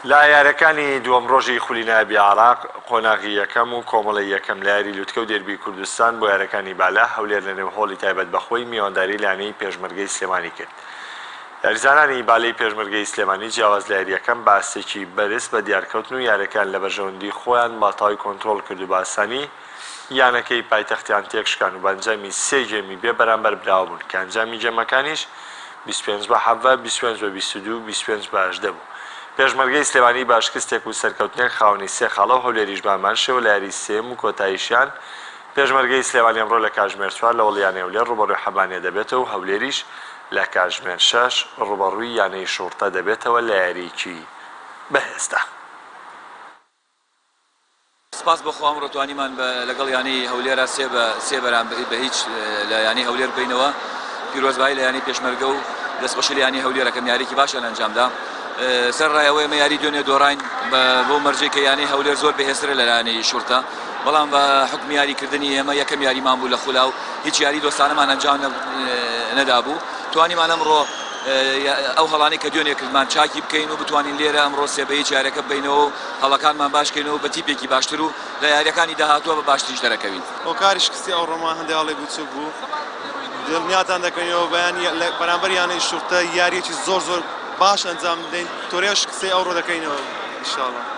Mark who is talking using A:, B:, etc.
A: لە یاریەکانی دووەم رۆژی خولی نایابی عێراق، قۆناغی یەکەم و کۆمەڵەی یەکەم لە یاری لوتکە و دێربی کوردستان بۆ یارەکانی بالا، هەولێر لە نێو هۆڵی تایبەت بە خۆی میوانداری لانەی پێشمەرگەی سلێمانی کرد. یاریزانانی بالەی پێشمەرگەی سلێمانی جیاواز لە یاریەکەم بە ئاستێکی بەرز بە دیارکەوتن و یارەکەیان لە بەرژەوەندی خۆیان بە تای کۆنترۆڵ کرد و بە ئاسانی یانەکەی پایتەختیان تێکشکان و بە ئەنجامی سێ گێمی بێ بەرامبەر براوە بوون کە ئەنجامی گێمەکانیش بیست و پێنج بە حەڤە، بیست و پێنج بە بیست و دوو و بیست و پێنج بە هەژدە بوو. پێشمەرگەی سلێمانی بە شکستێک و سەرکەوتنێک خاوەنی سێ خاڵە و هەولێریش بە هەمان شێوە لە یاریی سێیەم و کۆتاییشیان پێشمەرگەی سلێمانی ئەمڕۆ لە کاتژمێر چوار لە وڵیانەی هەولێر ڕووبەڕووی حەبانێ دەبێتەوە و هەولێریش لە کاتژمێر شەش ڕووبەڕووی یانەی شوڕتە دەبێتەوە لە یارییەکی بەهێزدا.
B: سپاس بۆ خوا ئەمڕۆ توانیمان بە لەگەڵ یانەی هەولێرا سێ بە سێ بەرام بە هیچ لە یانەی هەولێر بینەوە پیرۆزبایی لە یانەی پێشمەرگە و دەستخۆشی لە یانەی هەولێر ئەکەم یاریکی باشیان ئەنجامدا سەر ڕای ئەوەی ئەمە یاری دوێنێ دۆڕاین بۆ مەرجێک کە یانەی هەولێر زۆر بەهێزترە لە لایەنەی شورتە بەڵام بە حکم یاریکردنی ئێمە یەکەم یاریمان بوو لە خولا و هیچ یاری دۆستانەمان ئەنجام نەدابوو توانیمان ئەمڕۆ ئەو هەڵانەی کە دوێنێ کردمان چاکی بکەین و بتوانین لێرە ئەمڕۆ سێ بە یەک یاریەکە ببەینەوە و هەڵەکانمان باش کەین و بە تیپێکی باشتر و لە یاریەکانی داهاتووە بە باشتریش دەرەکەوین. هۆکاری شکستی
C: ئەوڕۆمان هەندێ هەڵێک بچووک بوو دڵنیاتان دەکەینەوە بەیان بەرامبەر یانەی شوڕتە یاریەکی زۆر زۆر باش ئەنجام بدەین تۆرێ شکستەی ئەوڕۆ دەکەینەوە ئیشاڵا.